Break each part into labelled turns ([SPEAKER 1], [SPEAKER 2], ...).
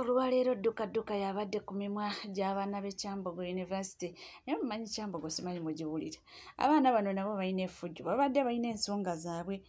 [SPEAKER 1] olwaleero ddukadduka yabadde ku mimwa gy'abaana b'e kyambogo university naye mumanyi kyambogo simanyi mugiwulire abaana bano nabo balina efujjo babadde balina ensonga zaabwe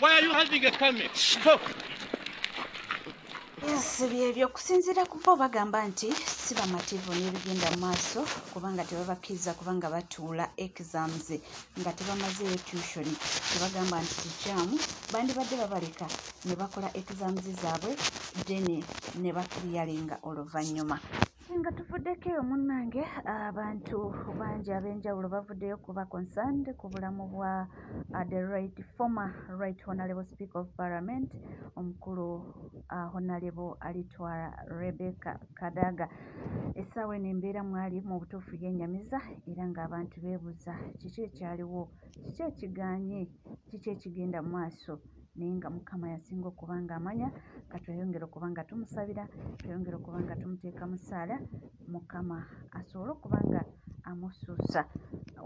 [SPEAKER 2] Why are you holding a camera? Stop.
[SPEAKER 1] Yes, byebyo okusinziira ku bo bagamba nti si bamativu n'ebigenda mu maaso kubanga tebabakkiriza kubanga batuula exams nga tebamazeeyo tushoni tebagamba nti kikyamu bandibadde babaleka ne bakola exams zaabwe deni ne bakiriyalinga oluvannyuma nga tuvuddeko eyo munnange abantu bangi ab'enjawulo bavuddeyo kuba concerned ku bulamu bwa uh, the right former right honalable speaker of parliament omukulu uh, honalable alitwala rebecca kadaga essaawa eno embeera mwali mu butuufu yenyamiza era ng'abantu beebuza kiki ekyaliwo kiki ekiganye kiki ekigenda mu maaso naye nga mukama yasinga okuba nga amanya nga tweyongera okuba nga tumusabira tweyongera okuba nga tumuteeka mu ssaala mukama asobole okuba nga amusuusa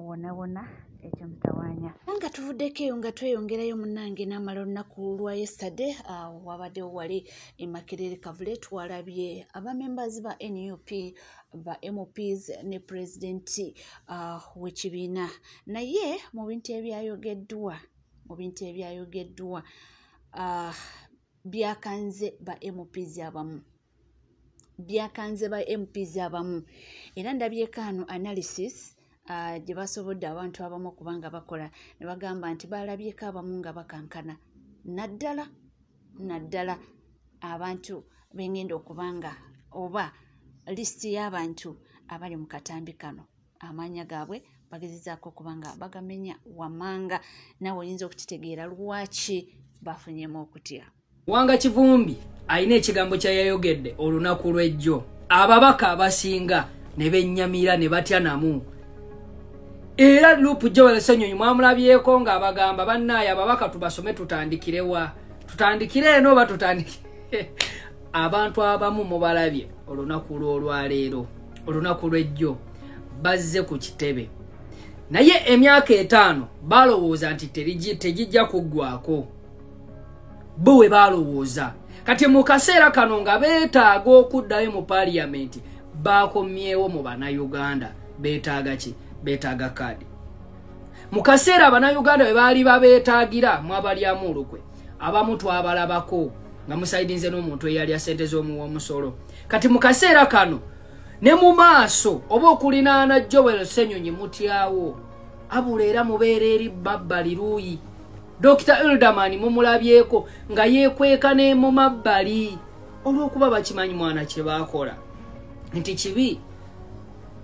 [SPEAKER 1] wonawona ekyo mutawanya nga tuvuddeko eyo nga tweyongerayo munange namala olunaku lwa yesitade awo wabaddewo wali emakerere kavule twalabye abamembers ba nup ba mps ne pulezidenti uh, wekibiina naye mu bintu ebyayogeddwa mu bintu ebyayogeddwa uh, byakanze ba mps abamu byakanze ba mps abamu era ndabyekaano analysis uh, gye basobodde abantu abamu okuba nga bakola ne bagamba nti balabyeko abamu nga bakankana naddala naddala abantu bengenda okuba nga oba lisiti y'abantu abali mu katambi kano amaanya gaabwe bagezezaako okuba nga bagamenya wamanga nawe oyinza okukitegeera lwaki bafunyemu okutya Wanga Kivumbi
[SPEAKER 3] alina ekigambo kya yayogedde olunaku lw'ejjo ababaka abasinga ne bennyamira ne batya namu era lupu joel senyonyi mwamulabyeko nga abagamba bannaaye ababaka tubasome tutandikirewa tutandikire eno oba tutandikire abantu abamu mubalabye olunaku lw'olwaleero olunaku lw'ejjo bazze ku kitebe naye emyaka etaano balowooza nti tegijja kuggwako bo we balowooza kati mu kaseera kano nga beetaaga okuddayo mu paliyamenti baakomyewo mu bannayuganda beetaaga ki beetaaga kaadi mu kaseera abannayuganda bwe baali babeetaagira mwabalyamu olukwe abamu twabalabako nga musaidinze n'omuntu eyalya sente z'omuwa omusolo kati mu kaseera kano ne mu maaso oba okulinaana joel senyonyi mutyawo abula era mubeera eri babbali luuyi Dr. Elderman mumulabyeko nga yekweka ne mu mabbali olw'okuba bakimanyi mwana kye baakola nti kibi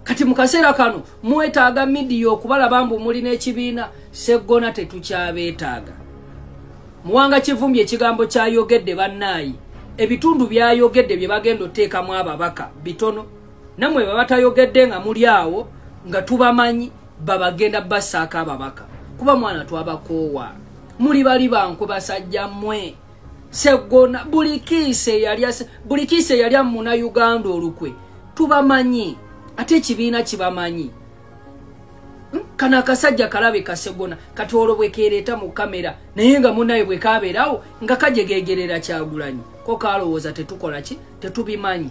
[SPEAKER 3] kati mu kaseera kano mwetaaga midiya okubalaba mbu muli n'ekibiina seggona tetukyabeetaaga muwanga kivumbye ekigambo kyayogedde bannaayi ebitundu byayogedde bye bagenda oteekamu ababaka bitono namwe bwe batayogedde nga muli awo nga tubamanyi babagenda basaako ababaka kuba mwana twabakoowa muli bali bankwe basajja mwe segona buli kiisa eyali amuna uganda olukwe tubamanyi ate ekibiina kibamanyi hmm? kano akasajja kalabe kasegona kati olwo bwekereeta mu kamera naye nga munaye bwekabeerawo nga kajegegerera kyagulanyi ko kalowooza tetukola ki tetubimanyi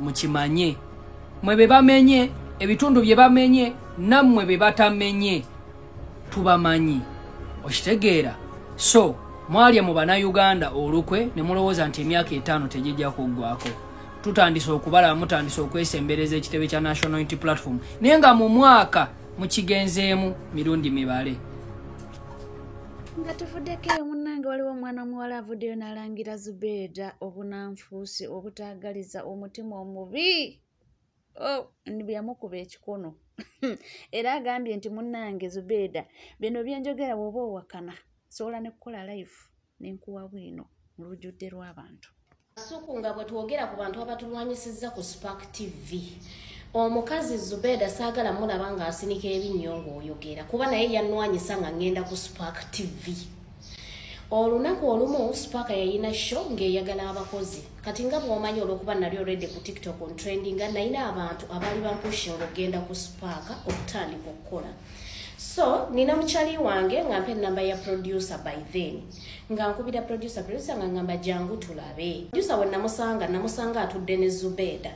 [SPEAKER 3] mukimanye mwe be bamenye ebitundu bye bamenye nammwe be batamenye tubamanyi okitegeera so mwalya mu banauganda olukwe ne mulowooza nti emyaka etaano tegijja kuggwako tutandise okubalaba mutandise okwesembereza ekitebe kya national unity platform naye nga mu mwaka mukigenzeemu mirundi mibale
[SPEAKER 1] nga tuvuddeko eyo munnange waliwo omwana omuwala avuddeyo n'alangira zubeeda obunanfuusi obutaagaliza omutima omubi oh, byamukuba ekikono era agambye nti munnange zubeeda bino byenjogera woba owakana sobola nekukola life nenkuwa bwino mu lujjudde lw'abantu Kasuku nga bwe
[SPEAKER 4] twogera ku bantu abatulwanyisizza ku Spark TV omukazi Zubeda saagala mulaba ng'asinika ebinnyo ng'oyogera kuba naye yannwanyisa nga ngenda ku Spark TV olunaku olumu Spark yayina show ng'eyagala abakozi kati nga bw'omanyi olw'okuba nali olwedde ku TikTok on trending nga nalina abantu abaali bampushinga okugenda ku Spark okutandika okukola so nina mukyali wange nga mpa ennamba ya producer by then nga nkubira producer producer nga ngamba jangu tulabe producer we namusanga namusanga atudde ne zubeda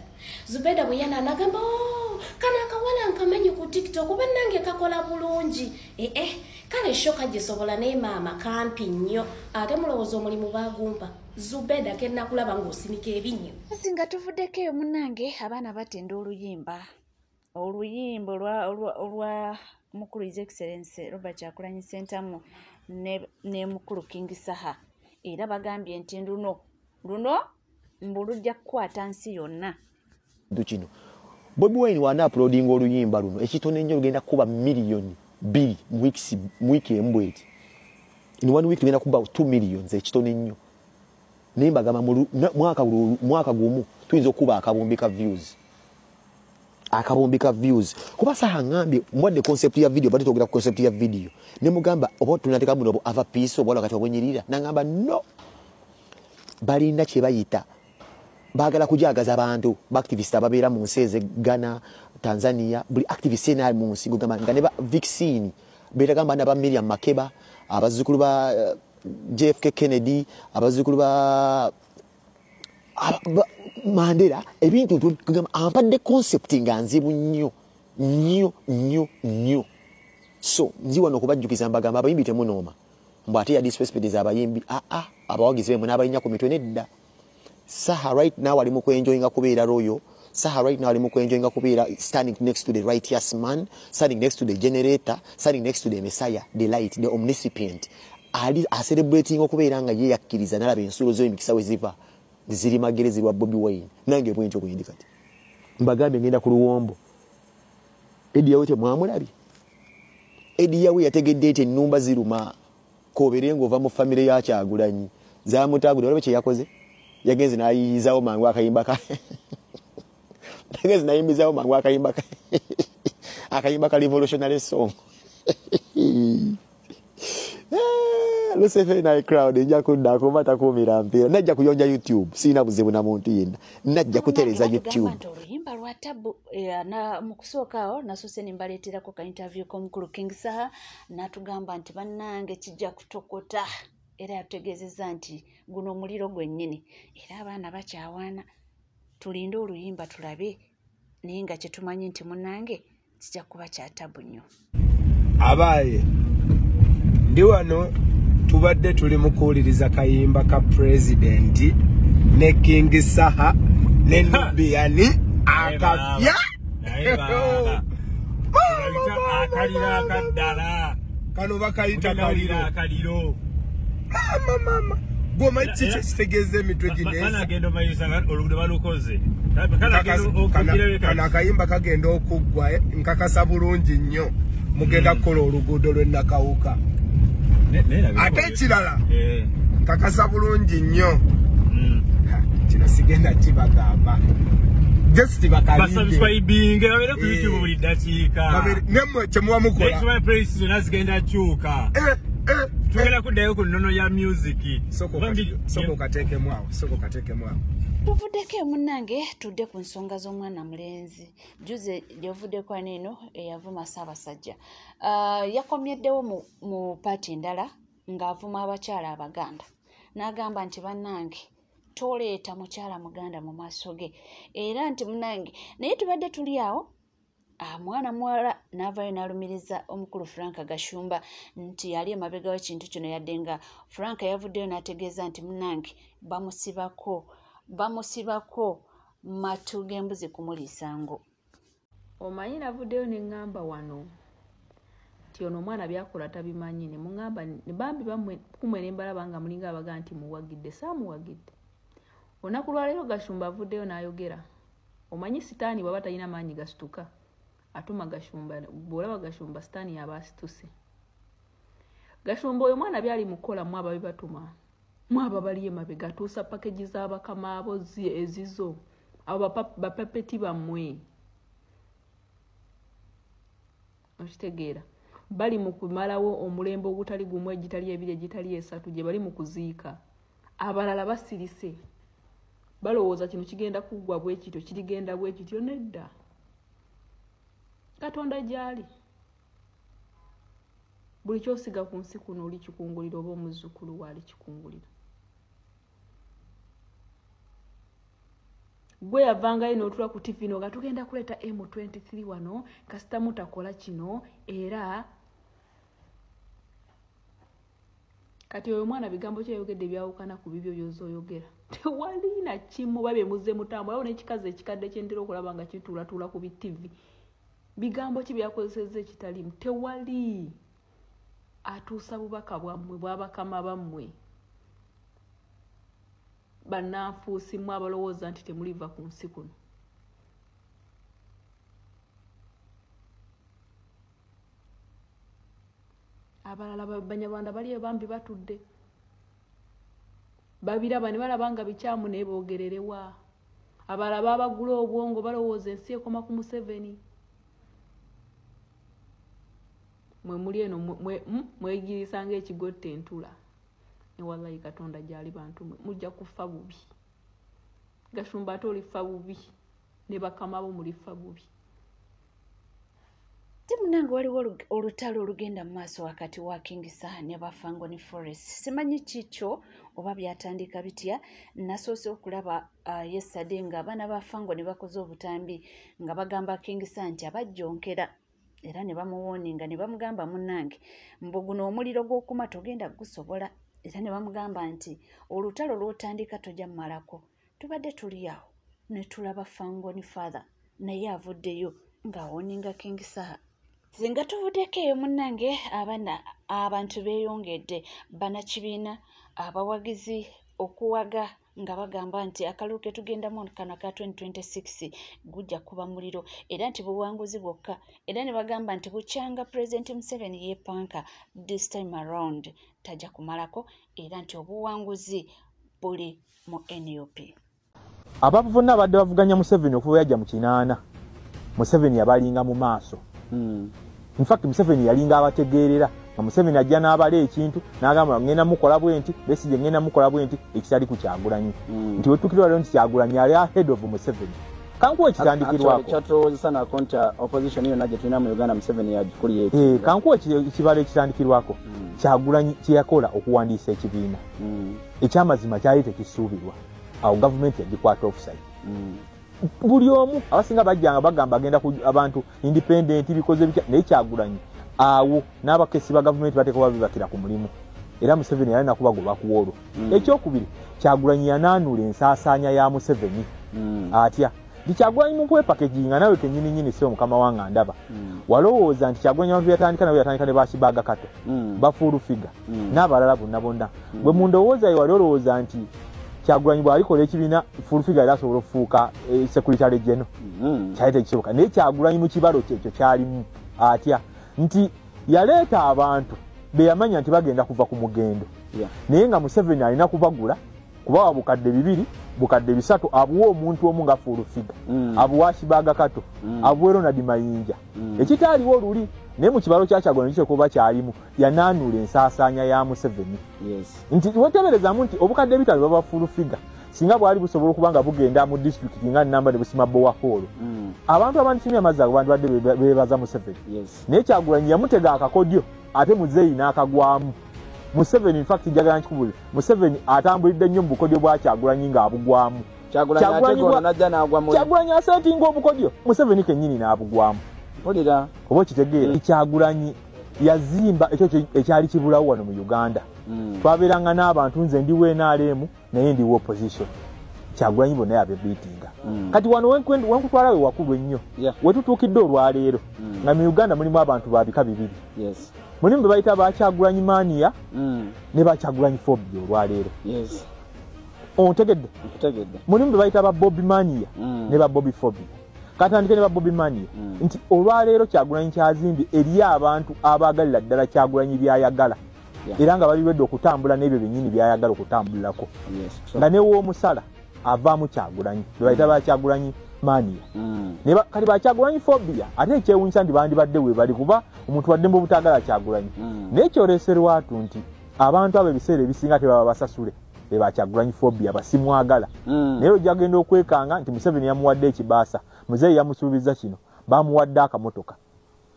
[SPEAKER 4] zubeda bwe yana nagamba oh, kana akawala nkamanyi ku tiktok oba nange kakola bulungi ee eh, eh, kale shoka gisobola naye maama kampi nnyo ate mulowooza omulimu bagumpa zubeda kenakulaba ngaosinika ebinnyo singa tuvuddeko
[SPEAKER 1] eyo munange abaana batenda oluyimba oluyimba olwa mukulu his excellence robert kyakulanyi sentamu ne mukulu king saha era bagambye nti luno luno mbu lujja kukwata nsi yonna kino
[SPEAKER 5] bobi wine waana apulodinga oluyimba luno ekitono ennyo lugenda kukuba miliyoni bbiri mu wiiki embw eti in one week tugenda kuba 2 millions ekitono ennyo naye mbagamba mwaka gumu tuyinza okukuba akabumbi ka views akabumbi ka views kuba saha ngambye mbwadde concept ya video bati togera concept ya video ne mugamba obo tunateka muno obo ava piece obo wakati obonyirira nangamba no balinda kye bayita bagala kujagaza abantu ba activist ababeera mu nsi eze Ghana Tanzania buli activist ena mu nsi gugamba nga ne ba vaccine betagamba na ba Miriam Makeba abazukulu ba eh, JFK Kennedy abazukulu ba mandera ebintu tugamba ampadde concept nga nzibu nnyo nnyo nnyo nnyo so nzi wano okubajjukiza mbagamba abayimbi temunooma mbu ate yadisrespecteza abayimbi aa ah, ah, abawagizi bemwe n'abayinya ku mitwe nedda saha right now ali mu kwenjoyinga kubeera royo Saha right now ali mu kwenjoyinga kubeera standing next to the righteous man, standing next to the generator, standing next to the messiah, the light, the omniscient. Ali acelebrating okubeera nga ye yakkiriza nalaba ensulo zo emikisa we ziva ziri magere zirwa Bobi Wine. Nange bwentyo bwendi kati. Mbagambye ngenda ku luwombo. Edi yawe temwamulabye. Edi yawe yategedde nti ennumba ziruma. kobere ngova mu family ya kyagulanyi zamutagude olaba kye yakoze yagenze nayiyizawo mangu akayimba ka yagenze nayimbizawo mangu akayimba ka akayimba ka revolutionary song eh, lusefe naye crowd nja kudda kuba takuumira mpiira najja kuyonja youtube sirina buzibu na muntu yenna najja kutereza youtube oluyimba lwa tabu
[SPEAKER 1] eh, mu kusooka awo nasose ne mbaleeterako ka interview k'omukulu king saha natugamba nti bannange kijja kutokota era yatutegeezezza nti guno omuliro gwennyini era abaana bakyawaana tulinde oluyimba tulabe naye nga kyetumanyi nti munange kijja kuba kyatabu nnyo abaaye
[SPEAKER 6] ndi wano tubadde tuli mu kuwuliriza kayimba ka pulezidenti ne kingi saha ne nubiyani akapya
[SPEAKER 7] naye baba akalira akaddala kano bakayita
[SPEAKER 6] kaliro akaliro
[SPEAKER 7] mama
[SPEAKER 6] mama goma kiki kitegeeza emitwe gineagenda omayisa
[SPEAKER 7] olugudo balukoze
[SPEAKER 6] kano akayimba kagenda okuggwa eh, nkakasa bulungi nnyo mugenda hmm. kukola oluguudo lwenakawuka kirala eh. kakasa bulungi nnyo hmm. kino sigenda kibagamba just bakaliinge
[SPEAKER 7] babere ku youtube buli ddakiika nemwe kyemuba
[SPEAKER 6] mukolaekiba praise zonna zigenda
[SPEAKER 7] kyuka eh, eh, tugenda eh. kuddayo ku nnono ya music
[SPEAKER 6] soko kateekemu awo soko kateekemu awo
[SPEAKER 1] tuvuddeko emunange tudde ku nsonga z'omwana mulenzi juze gyovuddeko aneeno eyavuma ssaabasajja ah, yakomyeddewo mu mu paati endala ng'avuma abakyala abaganda n'agamba nti bannange toleeta mukyala muganda mu maaso ge era nti munange naye tubadde tuli awo ah, mwana muwala n'avayo n'alumiriza omukulu frank gashumba nti yali emabegawo ekintu kino yadde nga frank yavuddeyo n'ategeeza nti munange bamusibako bamusibako matu g'embuzi kumuliisa ngo
[SPEAKER 8] omanyi navuddeyo ne ŋŋamba wano nti ono omwana byakola tabimanyi ne muŋamba ne bambi kumwe ne mbalaba nga mulinga abaga nti muwagidde saamuwagidde olunaku lwaleero gashumba avuddeyo n'ayogera omanyi sitaani bwaba talina maanyi gasituka atuma gashumba bwolaba gashumba sitaani yaba asituse gashumba oyo mwana byali mukukola mu ababi batuma mu aba bali emabega atuusa pakeji z'abakamaabo ezizo abo bapepeti bammwe okitegeera bali mu kumalawo omulembe ogutali gumu egitali ebiri egitali esatu gye bali mu kuziika abalala basirise balowooza kino kigenda kuggwa bwekityo kirigenda bwekityo nedda katonda gyali buli kyosiga ku nsi kuno olikikungulira oba omuzzukulu waalikikungulira gwe yavangayo notula ku tv no nga tugenda kuleeta m23 wano kasita mutakola kino era kati oyo omwana bigambo kyeyogedde byawukana ku bibyo byoza oyogera tewali na kimu oba byemuze mutambo awo nekikazi ekikadde kyentera okulaba nga kituulatuula ku bitivi bigambo ki byakozeseza ekitalimu tewali atuusa bubaka bwammwe bwabakama bammwe bannanfuusi mwe abalowooza nti temuliva ku nsi kuno abalala banyarwanda bali ebambi batudde babiraba ne balaba nga bikyamu naye boogererewa abalala babagula obwongo balowooza ensi ekoma ku museveni mwe muli eno hmm? mwegirisa nga ekigotta entula newallayi katonda gyali bantu mwe mujja kufa bubi gashumba ate olifa bubi ne bakama bo mulifa bubi
[SPEAKER 1] timunange waliwo olutalo olugenda mu maaso wakati wa kingisa ne bafangoni forest simanyi kikyo oba byatandika bitya nasoose okulaba Ah, yesade nga abaana ba fango ne bakoze obutambi nga bagamba kingisa nti abajjonkera era ne bamuwooninga ne bamugamba munnange mbu guno omuliro gw'okuma togenda gusobola era ne bamugamba nti olutalo lw'otandika tojja mumalako tubadde tuli awo ne tulaba fango ni father naye avuddeyo ng'awooninga kingisaha singa tuvuddeko eyo munnange abana abantu beeyongedde banakibiina abawagizi okuwaga ah, nga bagamba nti akalulu ke tugendamu kano aka 2026 gujja kuba muliro era nti buwanguzi bwokka era ne bagamba nti bukyanga pulezidenti museveni yepanka this time around tajja kumalako era nti obuwanguzi buli mu nup
[SPEAKER 9] abavuna abadde bavuganya museveni okuva yajja mu kinaana museveni yabalinga mu maaso hmm. In fact Museveni yalinga abategeerera nga Museveni ajja n'abala ekintu n'agamba ngenda mukola bwenti Besigye ngenda mukola bwenti ekitali ku Kyagulanyi mm. nti wetukirwa lero nti Kyagulanyi yali ahead of Museveni kankuwa ekitandikirwako kyatulowozesa nako nti
[SPEAKER 10] uh, opposition yonna gye tulina
[SPEAKER 9] mu Uganda
[SPEAKER 10] Museveni yagikulira eki
[SPEAKER 9] eh,
[SPEAKER 10] kankuwa ekibalo ekitandikirwako mm. Kyagulanyi
[SPEAKER 9] kye yakola okuwandiisa ekibiina mm. ekyamazima kyali tekisuubirwa awo gavumenti yagikwata offside mm. buli omu abasinga bajjanga bagamba agenda ku abantu independent bikoze bitya naye kyagulanyi awo n'abakesi ba gavumenti bateeka kuba bibakira ku mulimu era museveni yali nakubagoba ku olwo mm. ekyokubiri kyagulanyi yanaanula ensaasaanya ya museveni mm. atya nti kyagulanyi mukwepakeji nga nawe kenyini nyini siwe mukama wanga ndaba mm. walowooza nti kyagulanyi abantu yatandika nawe yatandika ne bakibaga kato mm. bafuulu figure mm. n'abalala bonna bonna mm. bwe mundowooza yewali olowooza nti kyagulanyi bwalikola ekibiina fulfiga era asobola okufuuka eh, sekuritale geno mm. kyali tekisoboka naye kyagulanyi mu kibalo kyekyo kyalimu atya nti yaleeta abantu beyamanya nti bagenda kuva ku mugendo naye nga museveni alina kubagula kubawa bukadde bibiri bukadde bisatu abuwa omuntu omu nga fulufiga mm. abuwa kibaga kato mm. abuwe ronald mayinja mm. ekitaaliwo oluli naye mu kibalo kyakyagona kitekoba kyalimu yanaanuula ensaasaanya ya museveni nti weteberezamu nti obukadde ebitano baba fulufiga singa bwali busobola okuba nga bugenda mu disitulikiti nga namba ne busima bowahoolo mm. abantu abandisimya amazzi ago bandibadde bebaza museveni naye kyagulanyi yamutega akakodyo ate muzeeyi n'akagwamu museveni infact njagala nkikubuli museveni atambulidde nnyo mu bukodyo bwakyagulanyi ng'abugwamu kyagulanyi asetinga obukodyo museveni kennyini n'abugwamu oba okitegeera mm. kyagulanyi yazimba ekyo ekyali kibulawo wano mu uganda hmm. twabeeranga n'abantu nze ndiwo enaalemu naye ndiwo opposition kyagulanyi bonna yabebiitinga hmm. kati wano wankutwala we wakulu ennyo wetutuukidde olwaleero hmm. nga mu uganda mulimu abantu babika bibiri mulimu be bayita bakyagulanyi mania ne bakyagulanyi fobia olwaleero ontegedde mulimu be bayita ba bobi mania ne ba bobi fobia katandike ne babobi mani mm. nti olwaleero kyagulanyi kyazimbye eriyo abantu abaagalira ddala kyagulanyi byayagala yeah. era nga bali lwedde okutambula n'ebyo byennyini byayagala okutambulirako yes, so. nga newoomusala avaamu kyagulanyi bebayita mm. bakyagulanyi mania mm. ne kati bakyagulanyi fobia ate ekyewunyisa nti bandibadde webali kuba omuntu wadde mba obutaagala kyagulanyi mm. naye kyoreserwatu nti abantu abo ebiseera ebisinga tebaba basasule eba kyagulanyi phobia basimwagala mm. naye ojagenda okwekanga nti museveni yamuwadde ekibaasa muzeeyi yamusuubiza kino bamuwadde akamotoka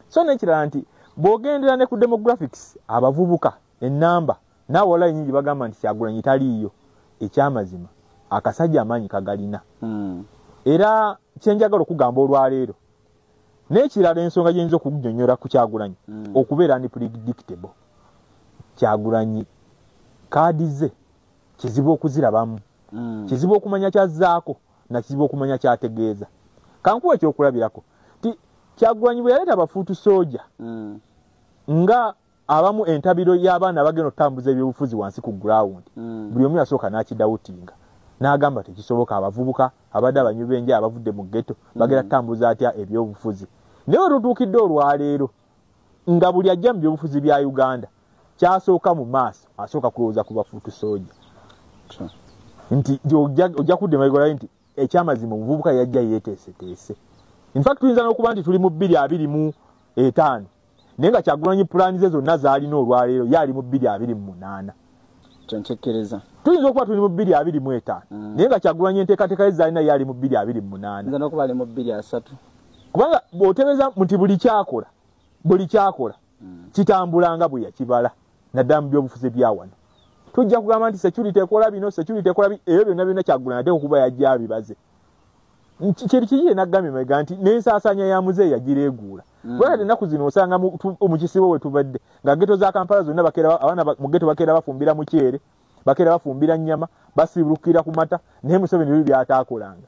[SPEAKER 9] so nekirala nti bwogendera ne ku demographics abavubuka enamba naawe wala enyingi bagamba nti kyagulanyi taliiyo ekyamazima akasajja amaanyi kagalina mm. era kyenjagala okugamba olwaleero nekirala ensonga gyeyinza okunyonyola ku kyagulanyi mm. okubeera ndi predictable kyagulanyi kaadi ze kizibu okuzirabamu mm. kizibu okumanya kyazaako nakizibu okumanya kyategeeza kankuwa ekyokulabirako ti kyagulanyi bwe yaleeta bafuutu soja mm. nga abamu entabiro y'abaana abagenda okutambuza ebyobufuzi wansi ku ground mm. buli omu yasooka n'akidawutinga n'agamba tekisoboka abavubuka abadde abanyu b'enja abavudde mu geto mm. bagenda kutambuza atya ebyobufuzi naye wetutuukidde olwaleero nga buli ajja mu byobufuzi bya uganda kyasooka mu maaso asooka kulowooza ku bafuutu sooja nti ojja kudda emabega olabe nti ekyamazima omuvubuka yajja yeteeseteese infact tuyinza n'okuba nti tuli mu bbiri abiri mu etaano naye nga kyagulanyi pulaani ze zonna zaalina olwaleero ye ali mu bbiri abiri mu munaana kyenkikiriza
[SPEAKER 10] tuyinza okuba tuli
[SPEAKER 9] mu bbiri abiri mu etaano mm. naye nga kyagulanyi enteekateeka ye zaalina ye ali mu bbiri abiri mu munaana
[SPEAKER 10] kubanga
[SPEAKER 9] bw'otebeeza nti buli kyakola buli kyakola mm. kitambula nga bwe yakibala naddala mu byobufuzi ebyawano tujja kugamba nti security ekola bino security ekola bi ebyo byonna byonna kyagula nate okuba yajja abibaze kiri kiri yenagambye mega nti n'ensaasaanya ya muze yagireeguula mm. kubanga te ennaku zino osanga mu kisibo we tubadde nga geto za kampala zonna bakera abaana mu geto bakeera bafumbira mukyere bakeera bafumbira nnyama basiibulukira ku mata naye museveni byo byataakolanga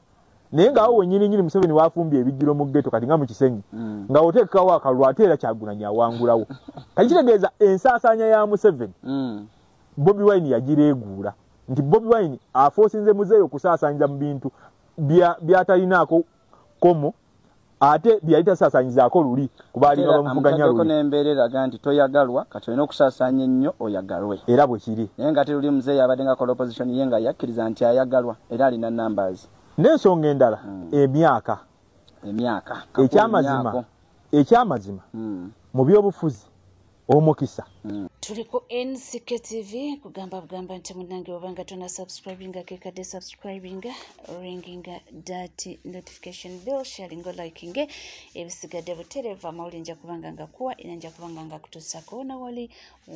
[SPEAKER 9] naye ngaawo wenyini nyini museveni wafumbye ebijjiro mu geto kati nga mu kisenyi mm. nga oteekawo akalulu ate era kyagunanyi awangulawo kati kitegeeza ensaasaanya ya museveni mm. bobi wine yagireeguula nti bobi wine afoosinze muzeeyo okusaasaanyiza mu bintu byatalinaako komo ate byeyali tasaasanyizaako luli kubaalinga bamuvuganya luli n'embeera eraga nti
[SPEAKER 10] toyagalwa kati olina okusaasanya ennyo oyagalwe era bwe kiri naye
[SPEAKER 9] nga ate luli muzeeyi abadde
[SPEAKER 10] nga kola opposition ye nga yakkiriza nti ayagalwa era alina numbers n'ensonga endala
[SPEAKER 9] hmm. emyaka emyaka ekyamazima ekyamazima hmm. mu byobufuzi omukisa tuli
[SPEAKER 1] ku nck tv kugamba bugamba nti munange obanga tona subscribinga kekadde subscribinga ringinga dat notification bill sharingo likinge ebisigadde buterevu amawuli nja kubanga nga kuwa era nja kubanga nga kutuusako wona wali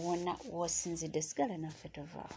[SPEAKER 1] wona wosinzidde sigala naffe tovaawo